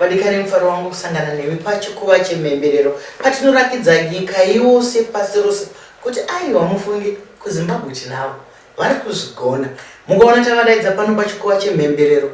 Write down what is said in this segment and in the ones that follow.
Wadikare mufaro wangu kusangana nemi pachikuva chemhemberero patinorakidza nyika yose pasi rose kuti aiwa mufunge kuZimbabwe tinavo vari kuzvigona. Mukaona tavadaidza pano pachikuva chemhemberero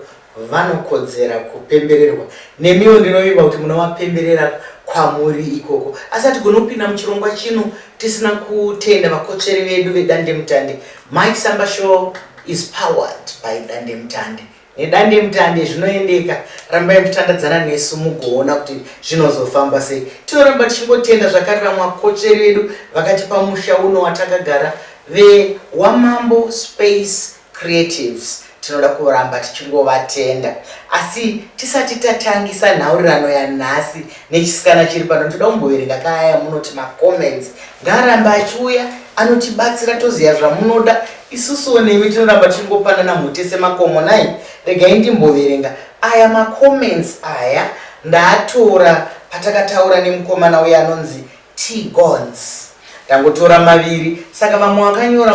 vanokodzera kupembererwa nemiwo ndinovimba kuti munovapemberera kwamuri ikoko asi hatigone kupinda muchirongwa chino tisina kutenda vakotsveri vedu vedandemutande. Mike Samba Show is powered by Dandemutande. nedandemutande zvinoendeka rambai muchitandadzana nesu mugoona kuti zvinozofamba sei tinoramba tichingotenda zvakarira mwakotsveri vedu vakatipa musha uno watakagara vewamambo space creatives tinoda kuramba tichingovatenda asi tisati tatangisa nhaurirano yanhasi Nechisikana chiri pano toda kumboverenga kaya munoti macomments ngaaramba achiuya anotibatsira toziva zvamunoda isusuwo nemi tinoramba tichingopanana mhute semakomo nai regai ndimboverenga aya macomments aya ndaatora patakataura nemukomana uye anonzi tgons tangotora maviri saka vamwe vakanyora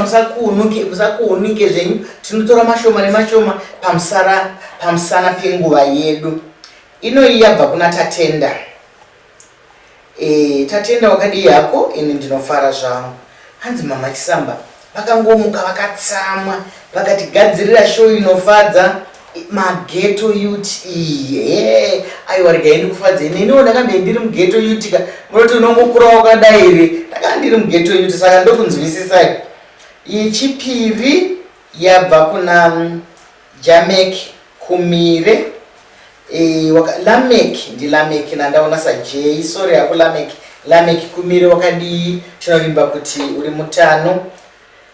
musakuunike zvenyu tinotora mashoma nemashoma pamusana penguva yedu Inoyi yabva kuna Tatenda. Eh, Tatenda wakadii hako? Ini ndinofara zvangu. Hanzi mama Chisamba vakangomuka vakatsamwa vakatigadzirira show inofadza mageto yut iye aiwa regai ndikufadze neniwo ndakandei ndiri mugeto yut ka munoti unongokura wakadai here ndakanga ndiri mugeto yut saka ndokunzwisisai yechipiri yabva kuna mm, Jameki, kumire eh, waka, Lameki ndiLameki nandaona saJay sorry hako Lameki Lameki kumire wakadii tinovimba kuti uri mutano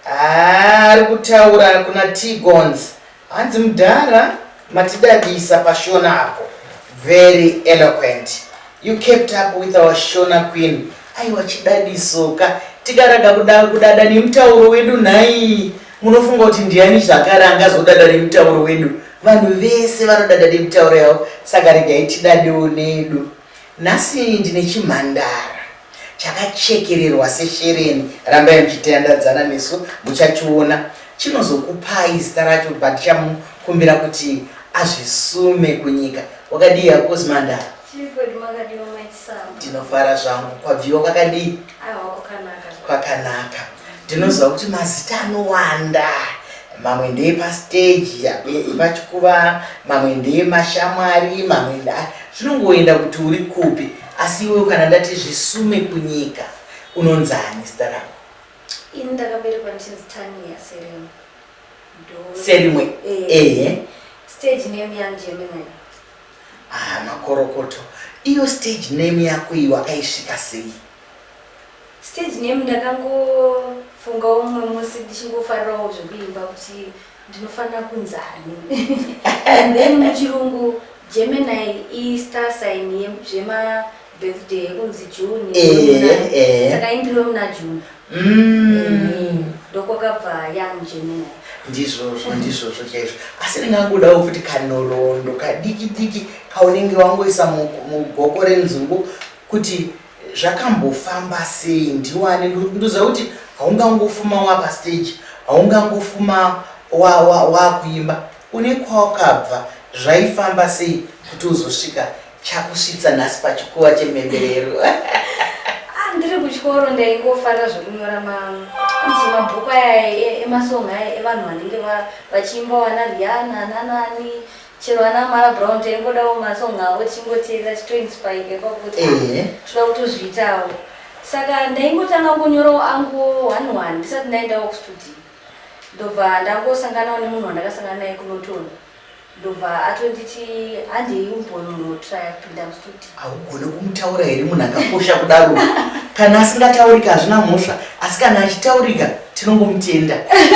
ah, ari kutaura kuna Tigons hanzi mudhara matidadisa pashona apo very eloquent You kept up with our Shona queen. Aiwa chidadisoka. Tikaraga kudada, kudada nemutauro wedu nhai. Munofunga kuti ndiani zvakare angazodada nemutauro wedu? Vanhu vese vanodada nemutauro yavo. Saka regai tidadewo nedu. Nhasi ndine chimhandara. chakachekererwa seshereni rambai muchitandadzana nesu muchachiona chinozokupai zita racho but chamukumbira kuti azvisume kunyika wakadii akozi mandara ndinofara zvangu kwabviwa kwakadii kwakanaka ndinoziva kuti mazita anowanda mamwe ndeye pasteji epachikuva mamwe ndeye mashamwari mamwe zvinongoenda kuti uri kupi Asi iwe kana ndati zvisume kunyika unonzani zita rako? Ini ndakaberekwa ndichinzi Tania Serimo. Serimo. Eh. Ehe. Stage name ya Gemini. Ah, makorokoto. Iyo stage name yako iyo akaisvika sei? Stage name ndakangofungawo mumwe musi ndichingofarirawo zvekuimba kuti ndinofanira kunzani and then muchirungu gemini istar sign zvema birthday yekunzi june saka imbiro muna june ndokwakabva young gemini ndizvozvo ndizvozvo chaizvo asi ndingangodawo futi kanhoroondo kadiki diki kaunenge wangoisa mugoko renzungu kuti Zvakambofamba sei ndiwane ndoziva kuti haungangofuma wapa stage haungangofuma wakuimba wa, wa une kwawakabva zvaifamba sei kuti uzosvika chakusvitsa nhasi pachikuva chemhemberero ah, ndiri kuchikoro ndaingofarira zvekunyora manzi mabhuku aya e, emasong aya evanhu vanenge vachiimba wana riana nanani Chero ana Mara Brown taingodawo masong avo tichingoteerera titoinspireka kwakuti Ehe. toda kutozviitawo. Saka ndaingotanga kungoyorawo angu one one ndisati ndaendawo kustudio. Ndobva ndangosanganawo nemunhu wandakasangana naye kuNorton. Ndobva atonditi handei umbonotry kupinda mustudio. haugone kumutaura here munhu akakosha kudaro kana asingataurika hazvina mhosva asi kana achitaurika tinongomutenda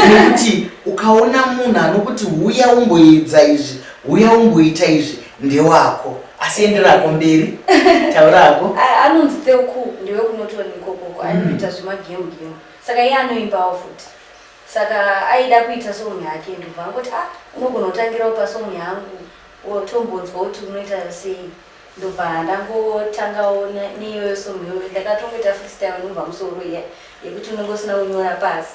nekuti ukaona munhu anokuti huya umboedza izvi huya umboita izvi ndewako asi enderako mberi taurako anonzi teuku ndewekunotoni ikokoko anoita mm. zvemagemu gemu saka iye anoimbawo futi saka aida kuita songi yake ndobva angoti a ah, unogona kutangirawo pasongi yangu or tombonzwa kuti unoita sei ndobva ndangotangawo neiyoyo song yoyo ndakatongoita freestyle inobva musoro iya yekuti unenge usina kunyora pasi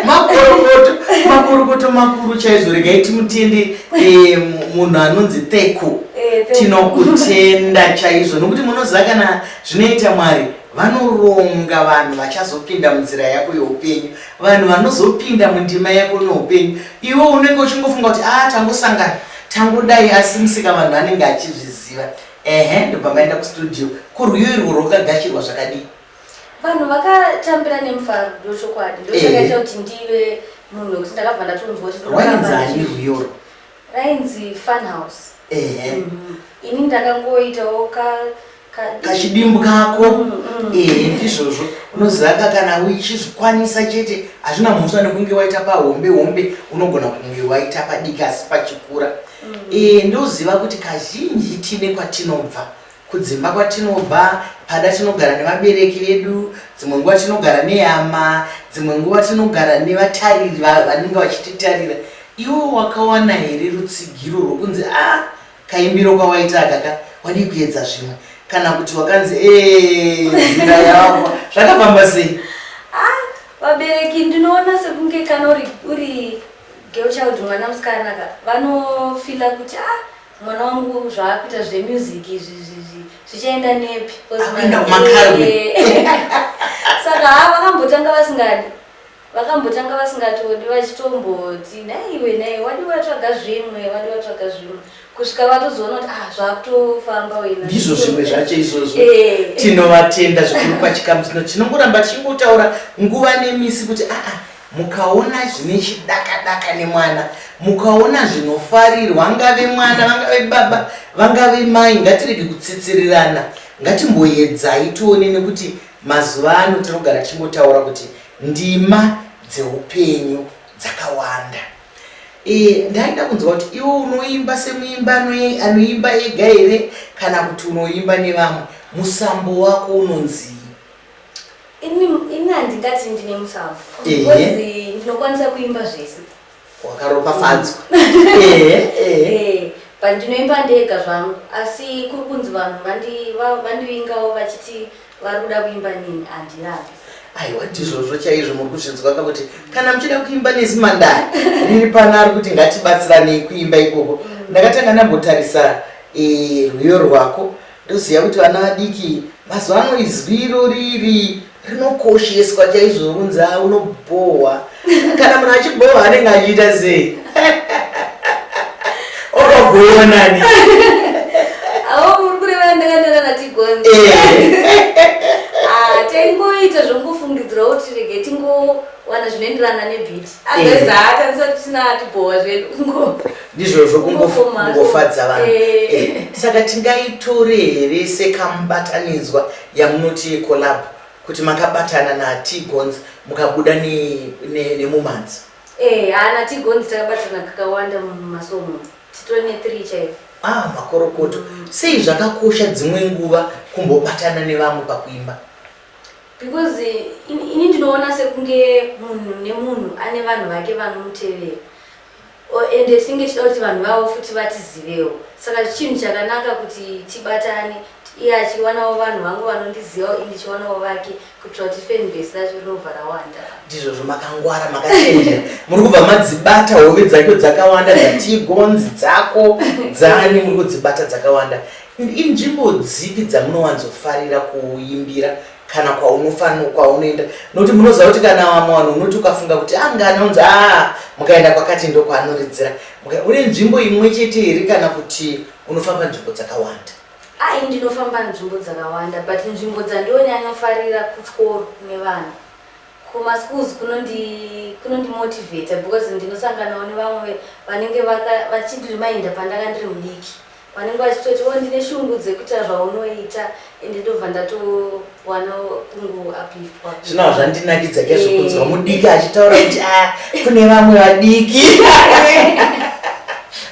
makorokoto makorokoto makuru chaizvo regai timutende eh, munhu anonzi theko eh, tinokutenda chaizvo nokuti munoziva kana zvinoita mwari vanoronga vanhu vachazopinda munzira yako youpenyu Vanhu vanozopinda mundima yako noupenyu iwe unenge uchingofunga kuti a ah, tangosangana tangodai asi musika vanhu anenge achizviziva ehe ndobva maenda kustudio kurwiyo irwo rwakagashirwa zvakadii vanhu vakatambira nemufaro ndochokwadi ndochakaita kuti ndive munhu wekuti ndakabva ndatonzwa kuti wainzani rwiyoro Rainzi fun house. Ehe. Mhm. Ini ndakangoitawo ka ka kachidimbu kako Mm, mm. ehe ndizvozvo unoziva ka kana uchizvikwanisa chete hazvina mhosva nekunge waita pahombe hombe unogona kunge waita padiki asi pachikura ehe ndoziva kuti kazhinji tine kwatinobva Kudzimba kwatinobva, pada tinogara nevabereki vedu, dzimwe nguva tinogara nehama, dzimwe nguva tinogara nevatariri vanenge vachititarira. Iwe wakawana here rutsigiro rwokunzi a ah, kaimbiro kwawaita aka ka wadii kuedza zvimwe kana kuti wakanzi eezira eh, yavo zvakafamba sei ah, vabereki ndinoona sekunge kana uri uri girl child mwana musikana ka vanofila kuti a ah, Mwana wangu zvaakuita zve music izvi izvi zvichaenda nepi? Akuenda kumakalwe. Saka ha vakambotanga vasingadi. Vakambotanga vasingatodi vachitomboti dai iwe dai wadi watsvaga zvimwe wadi watsvaga zvimwe kusvika vatozoona kuti ah zvakutofamba wena. Ndizvo zvimwe zvacho izvozvo. Eh. Tinovatenda zvikuru pachikamu chino tinongoramba tichingotaura nguva nemisi kuti ah ah Mukaona zvine chidakadaka nemwana, mukaona zvinofarirwa, angave mwana, vangave baba, vangave mai, ngatirege kutsitsirirana. Ngatimboyedzai tione nekuti mazuva ano tinogara tichingotaura kuti ndima dzeupenyu dzakawanda. E, ndaida kunzwa kuti iwe unoimba semuimba anoimba ega here kana kuti unoimba nevamwe? Musambo wako unonzii? Ini ini handingati ndine musavu Ehe. because ndinokwanisa kuimba zvese. wakaropafadzwa ehe ehe Eh, but ndinoimba ndega zvangu asi kuri kunzi vanhu vandi- va- vandivingawo vachiti vari kuda kuimba nini handirapi. aiwa ndizvozvo chaizvo muri kuzvinzwa ka kuti kana muchida kuimba nezimandaya riri pano ari kuti ngatibatsiranei kuimba ikoko ndakatanga ndambotarisa eh, rwiyo rwako Ndoziva kuti vana vadiki mazuva ano izwi iroriri rinokosheswa chaizvo kunzi a unobhohwa kana munhu achibhohwa anenge achiita sei okabhohwa nani taingoita zvongofungidzirawo tirege tingowana zvinoenderana nebhiti ageza haatambisa kuti tisina atibhowa zvedu ndizvozvo kungofadza vanhu eh. Eh, saka tingaitore here sekamubatanidzwa yamunoti yecolab kuti makabatana natigons mukabuda nemumanzi eh, haana tigons takabatana kakawanda mumasomo titore nethree chaivo ah makorokoto sei zvakakosha dzimwe nguva kumbobatana nevamwe pakuimba Because ini ndinoona sekunge munhu nemunhu ane vanhu vake vanomutevera ende tinenge tichida kuti vanhu vavo futi vatizivewo saka chinhu chakanaka kuti tibatane iye achiwanawo vanhu vangu vanondizivawo i ndichiwanawo vake kuitira kuti fanbase racho rinobva rawanda ndizvozvo makangwara makachenjera muri kubva madzibata hove dzacho dzakawanda dzatigonzi dzako dzani muri kudzibata dzakawanda And inzvimbo dzipi dzamunowanzofarira kuimbira kana kwaunofanira kwaunoenda nokuti munoziva kuti kana vamwe vanhu unoti ukafunga kuti anga ah, anonzi aa ah, mukaenda kwakati ndo kwaanoridzira une nzvimbo imwe chete here kana kuti unofamba nzvimbo dzakawanda ai ndinofamba nzvimbo dzakawanda but nzvimbo dzandionyanyofarira kuchikoro nevana kumaschools kunondimotivata because ndinosanganawo nevamwe vanenge vachindirimainda pandanga ndiri mudiki Vanenge vachitoti oh ndine shungu dzekuita zvaunoita ende ndobva ndatowana kungoapipwa. Zvino hazvandinakidza ke zvokunzwa eh. mudiki achitaura kuti ah kune vamwe vadiki.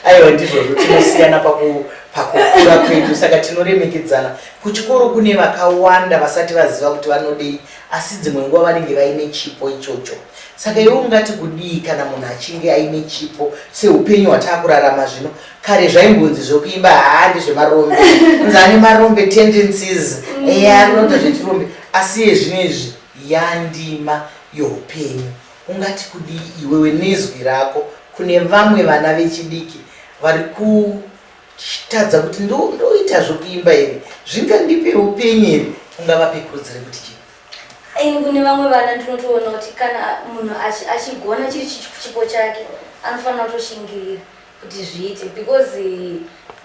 Aiwa ndizvozvo tinosiyana paku pakukura kwedu saka tinoremekedzana kuchikoro kune vakawanda vasati vaziva kuti vanodei asi dzimwe nguva vanenge vaine chipo ichocho saka iwe ungati kudii kana munhu achinge aine chipo seupenyu hwataakurarama zvino kare zvaimbonzi zvokuimba haa ndezvemarombe unzi ane marombe tendencies mm. eya arinoita zvechirombe asi yezvino izvi yandima youpenyu ungati kudii iwewe nezwi rako kune vamwe vana vechidiki vari kutadza kuti ndoita zvokuimba here zvingandipe upenyu here ungavape kurudzire kuti chii ini kune vamwe vana ndinotoona kuti kana munhu achigona chiri chipo chake anofanira kutoshingirira kuti zviite because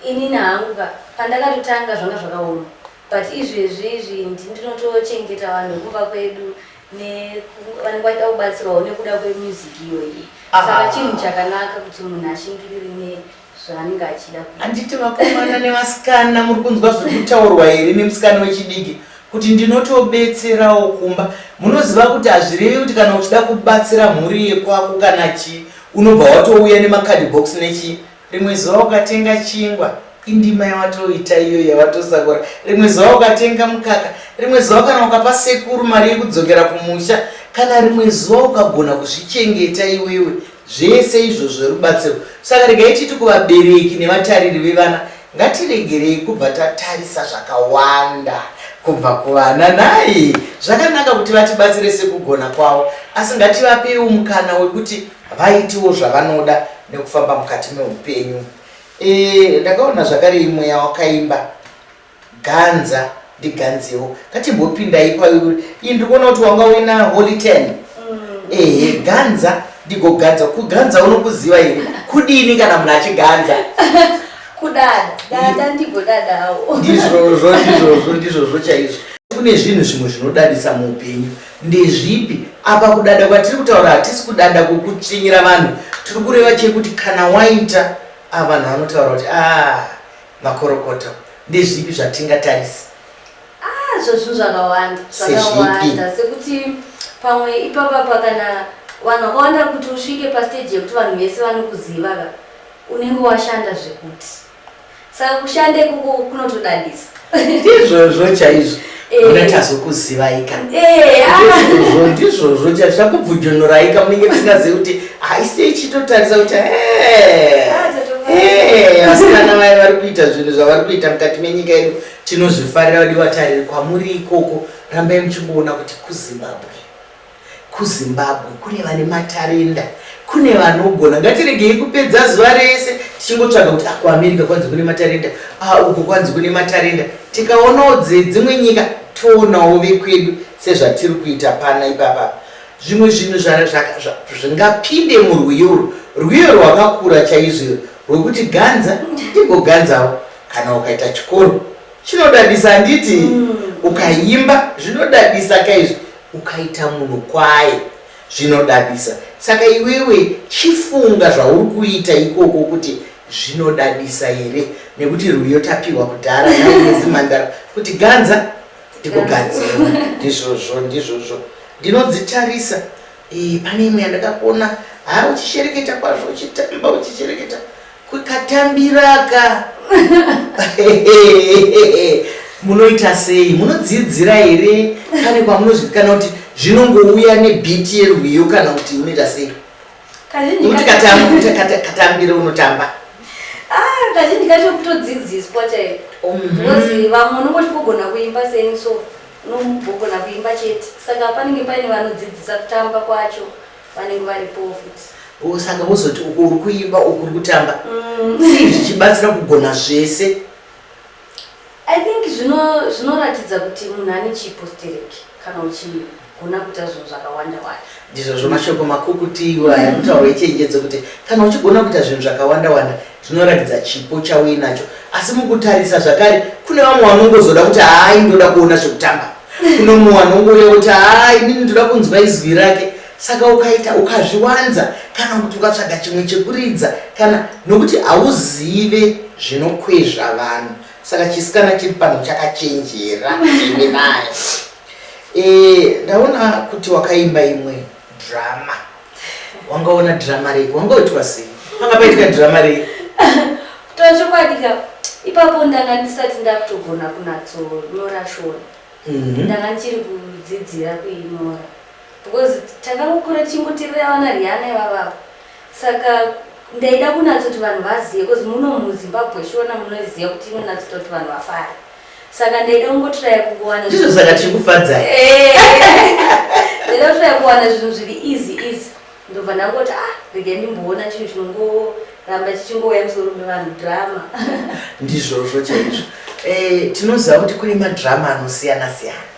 inini hangu ka pandakatotanga zvanga zvakaoma but izvezvi izvi ndinotochengeta vanhu vekumba kwedu nevanenge vaida kubatsirwawo nekuda kwemusic iyoyi saka ah. chinhu chakanaka kuti munhu ashingirire nezvaanenge achida handiti vakomana nevasikana muri kunzwa zviri kutaurwa here nemusikana wechidiki kuti ndinotobetserawo kumba munoziva kuti hazvirevi kuti kana uchida kubatsira mhuri yekwako kana chii unobva watouya nemacard box nechii rimwe zuva ukatenga chingwa indima yawatoita iyo yawatosakura rimwe zuva ukatenga mukaka rimwe zuva kana ukapa sekuru mari yekudzokera kumusha kana rimwe zuva ukagona kuzvichengeta iwewe Zvese izvozvo rubatsiro. Saka regai titi kuvabereki nevatariri vevana, ngatiregerei kubva tatarisa zvakawanda kubva kuvana. Nhai, zvakanaka kuti vatibatsire sekugona kwavo, asi ngativapeiwo mukana wekuti vaitewo zvavanoda nekufamba mukati meupenyu. E, ndakaona zvakare imweya wakaimba. Ganza ndiganzewo ngatimbopinda ipauri ini ndikuona kuti wanga uina holy ten mm. ehe ganza ndigoganza kuganza unokuziva ini kudini kana munhu achiganza kudada dada ndigodadawo ndizvozvo ndizvozvo ndizvozvo chaizvo kune zvinhu zvimwe zvinodadisa muupenyu ndezvipi apa kudada kwatiri kutaura hatisi kudada kwokutsvinyira vanhu tiri kureva chekuti kana waita avanhu ah, vanotaura kuti aa ah, Makorokoto, ndezvipi zvatingatarisa? Ah, zvazvinhu zvakawanda zvakawanda sekuti pamwe ipapapa kana vanhu vakawanda kuti usvike pasteji yekuti vanhu vese vanokuziva ka unenge washanda zvekuti saka kushanda ikoko kunotodadisa ndizvozvo chaizvo Muna tazokuzivaika. Eh, ah. Ndizvozvo chakubvujonoraika munenge tisingazivi kuti haisi ichitotarisa kuti eh. Ah, eh, vasikana vaye vari kuita zvinhu zvavari kuita mukati menyika yedu tinozvifarira vadi vatariri kwamuri ikoko rambai muchingoona kuti kuzimbabwe KuZimbabwe kune vane matarenda, kune vanogona. Ngatiregei kupedza zuva rese tichingotsvaga kuti ah, kuAmerica kwanzi kune matarenda, ah, uko kwanzi kune matarenda. Tikaonawo dzedzimwe nyika toonawo vekwedu sezvatiri kuita pana ipapa. Zvimwe zvinhu zvingapinde murwiyo urwu, rwiyo rwakakura chaizvo rwekuti ganza ndigoganzawo. Kana ukaita chikoro chinodadisa handiti, mm. ukaimba zvinodadisa kaizvo Ukaita munhu kwaye zvinodadisa saka iwewe chifunga zvauri kuita ikoko kuti zvinodadisa here nekuti rwiyo tapiwa kudhara naezimhandara kuti ganza ndikugadzirwa ndizvozvo ndizvozvo ndinodzitarisa pane imwe yandakakuona haa uchishereketa kwazvo uchitamba uchishereketa Kwekatambiraka. Munoita sei? Munodzidzira here? Pane kwamunozvikanwa kuti zvinongouya nebeat yerwiyo kana kuti unoita sei? Kuti katambira unotamba. Ah, kazhinji kacho kutodzidziswa chaiko. Mhm. Ngozi vamwe unongoti kugona kuimba sei so unombogona kuimba chete. Saka panenge paine vanodzidzisa kutamba kwacho. vanenge varipowo futi oh, saka vozoti uko uri kuimba uku uri kutamba mm. sei zvichibatsira kugona zvese i think zvinoratidza kuti munhu ane chipo stereki kana uchigona kuita zvinhu zvakawanda wanda ndizvo zvomashoko makukutiwo aya mm. kutaura ichenjedzo kuti kana uchigona kuita zvinhu zvakawanda wanda zvinoratidza chipo chauinacho asi mukutarisa zvakare kune vamwe vanongozoda kuti haai ndoda kuona zvekutamba unomuwana ungouya kuti haa inini ndoda kunzwa izwi rake saka ukaita ukazviwanza kana kuti ukatsvaga chimwe chekuridza kana nokuti hauzive zvinokwezva vanhu saka chisikana chiri pano chakachenjera imi naye eh, ndaona kuti wakaimba imwe drama wanga ona drama rei wanga uitwa sei panga paitika drama rei kutaura chokwadi ka ipapo ndanga ndisati ndakutogona kunatsonyora shona mhm. ndanga ndichiri kudzidzira kuinyora because takangokura tichingotirira vana riana ivavavo saka ndaida kunatsoti vanhu vazive because muno muzimbabwe shona munoziva kuti inonatsota kuti vanhu vafare saka ndaida kungotraya kungowana ndizvo saka tiri kufadzai eh. ndaida kutraya kuwana zvinhu zviri easy easy ndobva ndangoti ah rega ndimboona chinhu chinongoramba chichingouya musoro mevanhu drama ndizvozvo chaizvo eh, tinoziva kuti kune madrama anosiyana siyana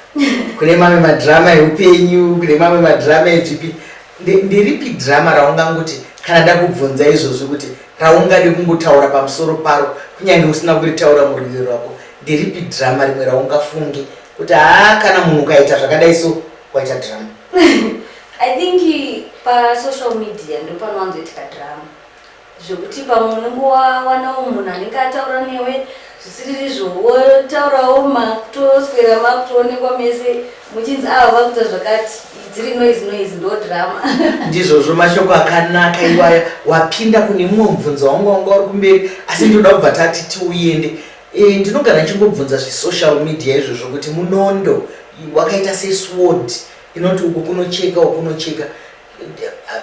kune mamwe madrama eupenyu kune mamwe madrama echipi Nderipi drama raungangoti kana ndakubvunza izvozvi kuti raungade kungotaura pamusoro paro kunyange usina kuritaura muruviri rwako? Nderipi drama rimwe raungafunge kuti haa kana munhu ukaita zvakadai so waita drama? I think pasocial media ndopanowanzoitika drama. zvekuti pamwe unenge wawanawo munhu anenge ataura newe zvisiriri izvo wotaurawo makutoswera makutoonekwa mese muchinzi ava ah, vakuita zvakati dziri noise noise ndo drama ndizvozvo mashoko akanaka iwaya wapinda kune mumwe mubvunzo wangu wanga uri kumberi asi ndinoda kubva tati tiuyende eh, ndinogara ndichingobvunza zvesocial media izvozvo kuti munondo wakaita sesword inoti uku kunocheka uku kunocheka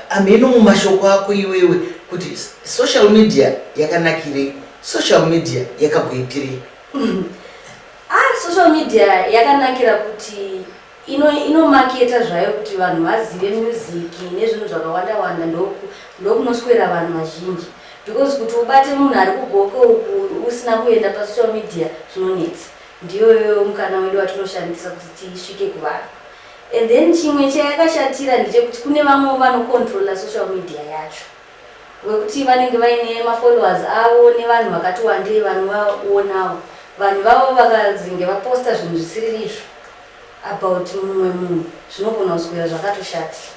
hameno mumashoko ako iwewe kuti social media yakanakirei social media yakagoitirei mm. ah, social media yakanakira kuti inomaketa ino zvayo kuti vanhu vazive music nezvinhu zvakawanda wanda ndokunoswera vanhu vazhinji because kuti ubate munhu ari kugoke uku usina kuenda pasocial media zvinonetsa ndiyoyo mukana wedu watinoshandisa kuti tisvike kuvanhu And then chimwe chayakashatira ndechekuti kune vamwewo vanocontroller social media yacho wekuti vanenge vaine mafollowers avo nevanhu vakati wandei vanovaonawo vanhu vavo vakazenge vaposta zvinhu zvisiri izvo about mumwe munhu zvinogona kuswera zvakatoshatira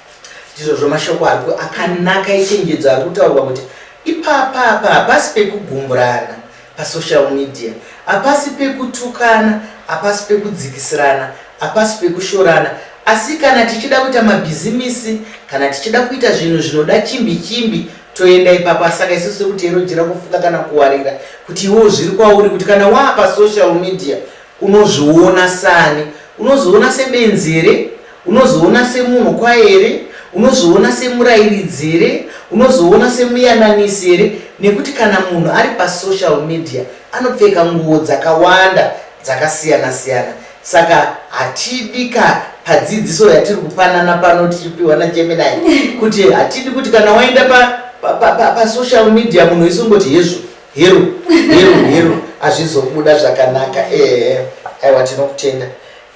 ndizvo zvomashoko ari akanaka ichenjedzo ari kutaurwa kuti ipapapa hapasi pekugumburana Pasocial media hapasi pekutukana, hapasi pekudzikisirana, hapasi pekushorana asi kana tichida kuita mabhizimisi, kana tichida kuita zvinhu zvinoda chimbi chimbi toenda ipapo saka isu tiri kuti yero jira kufuka kana kuwarira kuti iwewo zviri kwauri kuti kana waa pasocial media Unozviona saani? Unozviona sebenzi here? Unozviona semunhu kwaye here? Unozviona semurairidzi here? Unozviona semuyananisi here? Nekuti kana munhu ari pasocial media anopfeka nguvo dzakawanda dzakasiyana siyana saka hatidi ka padzidziso yatiri kupanana pano tichipiwa najeminai kuti hatidi kuti kana waenda pasocial pa, pa, pa media munhu isungoti hezvo Hero, hero, hero, hazvizobuda zvakanaka. Ehe, aiwa tinokutenda.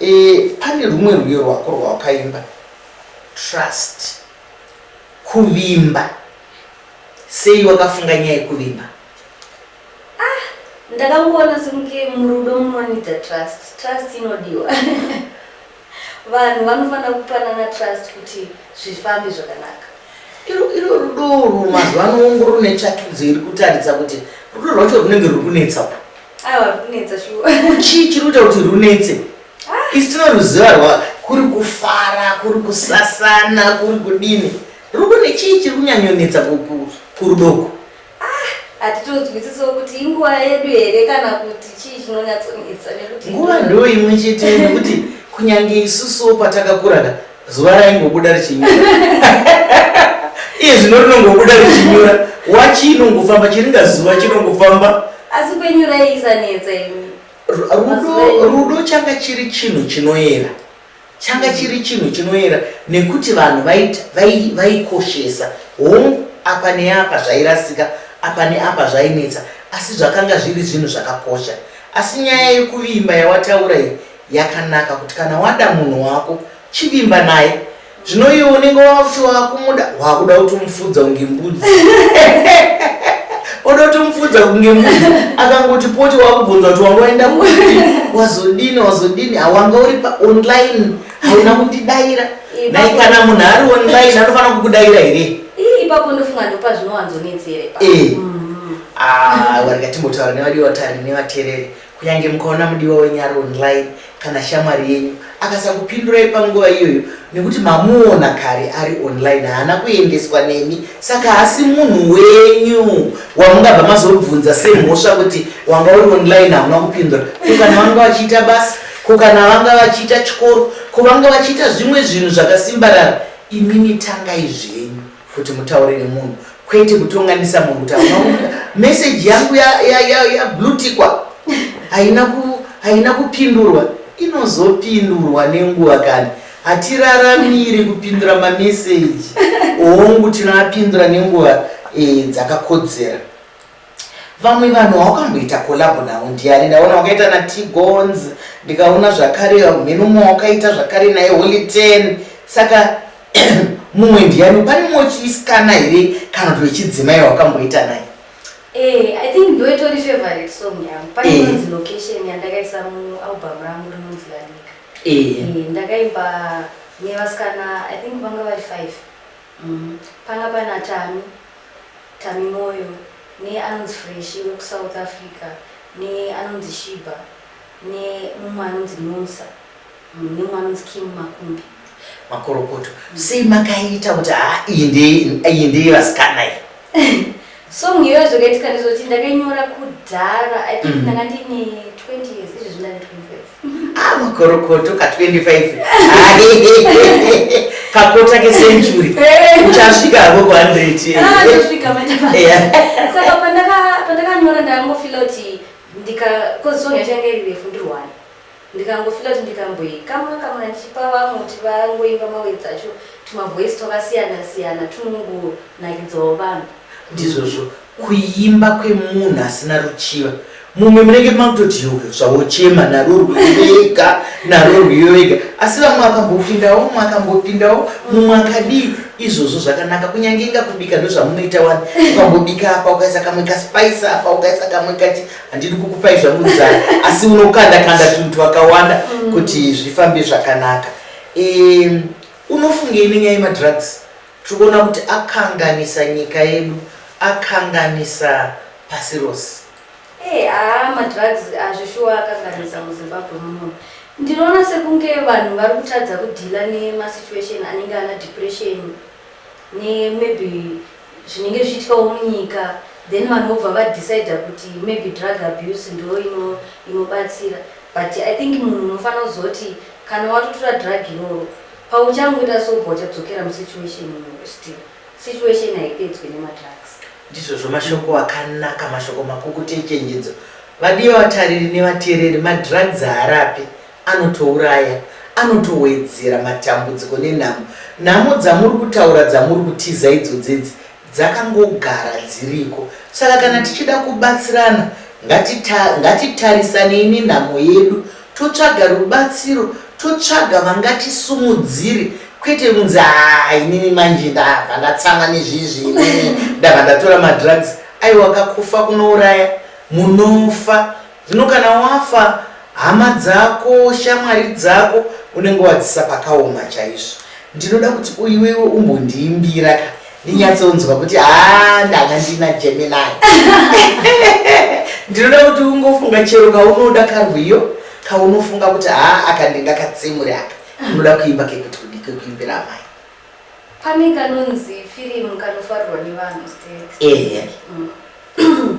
Eh, pane rumwe rwiyo rwako rwawakaimba. Trust. Kuvimba. Sei wakafunga nyaya yekuvimba? Ah, ndakangoona sekunge murudo munoita trust. Trust inodiwa. Vanhu vanofanira kupanana trust kuti zvifambe zvakanaka. Iro iro rudo urwu mazuva ano wongo rune tsvakidzo iri kutaridza kuti rudo rwacho runenge ruri kunetsa pa. Aiwa ruri kunetsa shuwa. Chii chiri kuita kuti runetse? Ah. Isi tinoruziva rwa kuri kufara, kuri kusasana, kuri kudini. Rudo nechii chiri kunyanyonetsa kurudoko? hatitonzwisisawo kuti inguva yedu here kana kuti chii chinonyatsonetsa nekuti nguva ndo imwe chete nekuti kunyange isusuwo patakakuraka zuva raingobuda richinyura iye zvino rinongobuda richinyura wachi inongofamba chiringa zuva chinongofamba asi kwenyura iisanetsa imi rudo changa chiri chinhu chinoyera changa chiri chinhu chinoyera nekuti vanhu vaikoshesa hongu apa neapa zvairasika apa neapa zvainetsa asi zvakanga zviri zvinhu zvakakosha asi nyaya yekuvimba yawataura iyi yakanaka kuti kana wada munhu wako chivimba naye Zvino iwe unenge wakuti wakumuda wakuda kuti umufudza kunge mbudzi. Oda kuti umufudza kunge mbudzi. Akangoti poti wakubvunza kuti wanga waenda kupi? Wazodini wazodini? Awanga uri pa online. Hauna kundidaira. Nai kana munhu ari online anofanira kukudaira here? Ipapo ndofunga ndopa zvinowanzonetsere pa. Eh. Mm. Ah, warikati mbotaura nevadi vatari nevatereri. Kunyange mukaona mudiwa wenyu ari online kana shamwari yenyu akasakupindurai panguva iyoyo nekuti mamuona kare ari online haana kuendeswa nemi saka haasi munhu wenyu wamungabva mazobvunza semhosva kuti wanga uri online hauna kupindura ko kana vanga vachiita basa ko kana vanga vachiita chikoro ko vanga vachiita zvimwe zvinhu zvakasimbarara imimi tangai zvenyu kuti mutaure nemunhu kwete kutonganisa munhu kuti amaunda meseji yangu yablutikwa ya, ya, ya haina ku, haina kupindurwa inozopindurwa nenguva kani hatiraramiri kupindura mameseji hongu tinoapindura nenguva e, dzakakodzera Vamwe vanhu haukamboita collab navo ndiani ndaona wakaita na Tigons ndikaona zvakare mheno mwa wakaita zvakare naye Holy 10 saka mumwe ndiani pane mumwe chisikana here kana kuti wechidzimai wakamboita naye Eh, I think ndo itori favorite song yangu. Pane Eh. inonzi location yandakaisa mu album rangu rinonzi Lanika. Eh, Eh, ndakaimba nevasikana I think vanga vari five. Umm panga pana Tami, Tami Moyo ne anonzi Freshi weku South Africa ne anonzi Shiba ne mumwe anonzi Nomsa umm nemwe anonzi Kim Makumbi. Makorokoto sei makaita kuti haa iyi ndeye iyi ndeye vasikana iyi. song iyoyo zvakaitika ndizoti ndakainyora kudhara i think mm. ndanga ndine 20 years izvezvi ndane 25 ah makorokoto ka 25 kakota kecentury eh. uchasvika hako ku 100 ah, saka pandakanyora ndangofila kuti ndika kozi song yachange iri refu ndirwani Ndikangofila kuti ndikamboyi kamwa kamwa ndichipa vamwe kuti vangoimba mawe dzacho tuma voice twakasiyana siyana tunongo nakidzawo vanhu. Ndizvozvo kuimba kwemunhu asina ruchiva mumwe munenge makutoti yoyo zvawochema naro rwuyoega naro rwuyoega asi vamwe vakambopindawo mumwe akambopindawo mumwe akadii izvozvo zvakanaka kunyange inga kubika ndozvamunoita wani ukambobika apa ukaisa kamwe kaspice apa ukaisa kamwe kati handidi kukupai zvangu nzara asi unokanda kanda tunhu twakawanda mm. kuti zvifambe zvakanaka um, unofungei nenyaya yemadrugs tiri kuona kuti akanganisa nyika yedu akanganisa pasi rose hey, eh, aa ah, madrugs azvishuwa akanganisa muzimbabwe muno ndinoona sekunge vanhu vari kutadza kudhila nemasituation anenge ana depression nemaybe zvinenge zvichiitikawo munyika then vanhu vobva va decider kuti maybe drug abuse ndo ino inobatsira but I think munhu unofanira kuziva kuti kana watotora drug iroro pauchangoita sober uchadzokera mu situation imomo still situation haipedzwe nema drugs. Ndizvozvo mashoko akanaka mashoko makukutu echenjedzo vadiwa vatariri nevateereri madrugs haarapi Anotouraya, anotowedzera matambudziko nenhamo. Nhamo dzamuri kutaura dzamuri kutiza idzodzi idzi dzakangogara dziriko. Saka kana tichida kubatsirana ngatita, ngatitarisanei nenhamo yedu totsvaga rubatsiro, totsvaga vangatisimudzire kwete kunzi haa inini manje ndabva ndatsamwa nezvizvi inini ndabva ndatora madrugs. Aiwa ka kufa kunouraya, munofa. Zvino kana wafa hama dzako shamwari dzako unenge wadzisa pakaoma chaizvo ndinoda kuti uiwewe umbondiimbira ka ndinyatsonzwa kuti haa ndanga ndina gemini ndinoda kuti ungofunga chero kaunoda karwiyo kaunofunga kuti haa aka ndingakatsemuri aka unoda kuimba kekuti kudi kekuimbira amai pane kanonzi firimu kanofarirwa nevanhu ehe mm.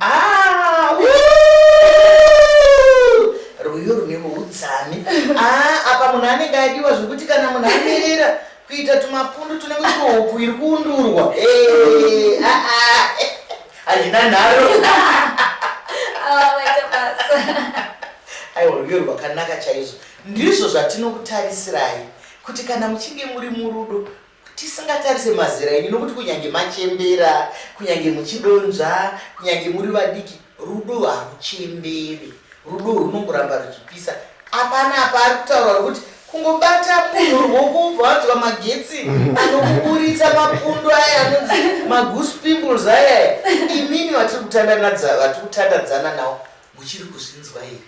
Ah, rwiyo rune muudzami ah, apa munhu anenge adiwa zvekuti kana munhu amirira kuita tumapundu tunenge tuhopu iri kuundurwa eh, ah, ah. hazvina nharo aiwa rwiyo rwakanaka chaizvo ndizvo zvatinokutarisirayi kuti kana muchinge muri murudo Tisingatarise mazera enyu nokuti kunyange machembera, kunyange muchidonzva, kunyange muri vadiki, rudo haruchemberi. Rudo runongoramba ruchipisa. Apana apa ari kutaura rokuti kungobata munhu ruoko wobva wanzwa magetsi anokuburitsa mapundu aya anonzi magoose pimples aya. Imimi vatiri kutandadza- vatiri kutandadzana nawo muchiri kuzvinzwa here?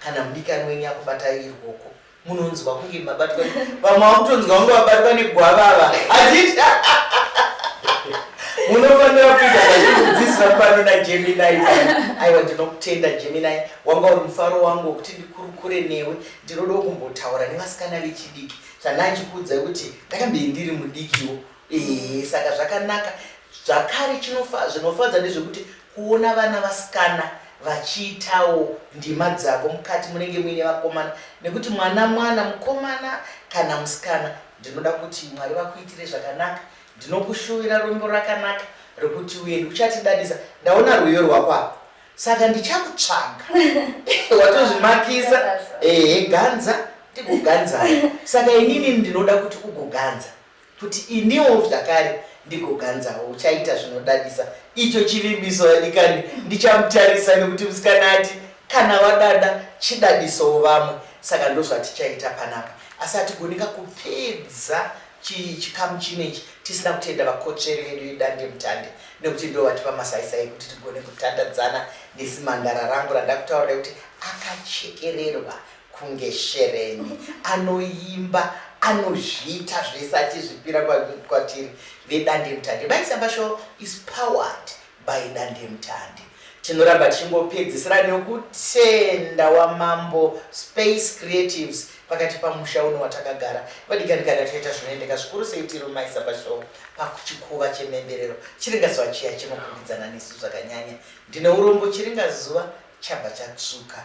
Kana mudikani wenyu akubatai irwoko munonzwa kunge mabatwa vamwe vakutonzwa kunge vabatwa negwava ava hazviti munofanira kuita zvazvinodzidzisa pano najeminai aiwa ndinokutenda jeminai wanga uri mufaro wangu wekuti ndikurukure newe ndinodawo kumbotaura nevasikana vechidiki zvandaa ndikuudzai kuti ndakambei ndiri mudikiwo ee saka zvakanaka zvakare zvinofadza ndezvekuti Kuona vana vasikana vachiitawo ndima dzavo mukati munenge muine vakomana nekuti mwana mwana mukomana kana musikana ndinoda kuti Mwari vakuitire zvakanaka ndinokushuvira rwendo rakanaka rekuti uende uchatidadisa ndaona rwiyo rwako apa saka ndichakutsvaga watozvimakisa ehe ganza ndikuganza saka inini ndinoda kuti ugoganza Kuti iniwo zvakare ndigoganzawo. Uchaita zvinodadisa. Icho chivimbiso vadikani. Ndichamutarisa nekuti musikana ati kana wadada chidadisowo vamwe saka ndozvatichaita panapa. Asi hatigoni ka kupedza chii chikamu chino ichi tisina kutenda vakotsveri vedu vedandemutande nekuti ndivo vatipa masaisai ekuti tigone kutandadzana nezimhandara rangu randakutaurira kuti akachekererwa kunge shereni anoimba anozviita zvese achizvipira kwatiri vedandemutande maisabasho is powered by dandemutande tinoramba tichingopedzisira nekutenda wamambo space creatives pakati pamusha uno watakagara vadikandikana toita zvinoendeka zvikuru sei tiri mumaisabasho pakuchikuva chememberero chiringazuva chiya chinokumbidzana nesu zvakanyanya ndine urombo chiringazuva chabva chatsvuka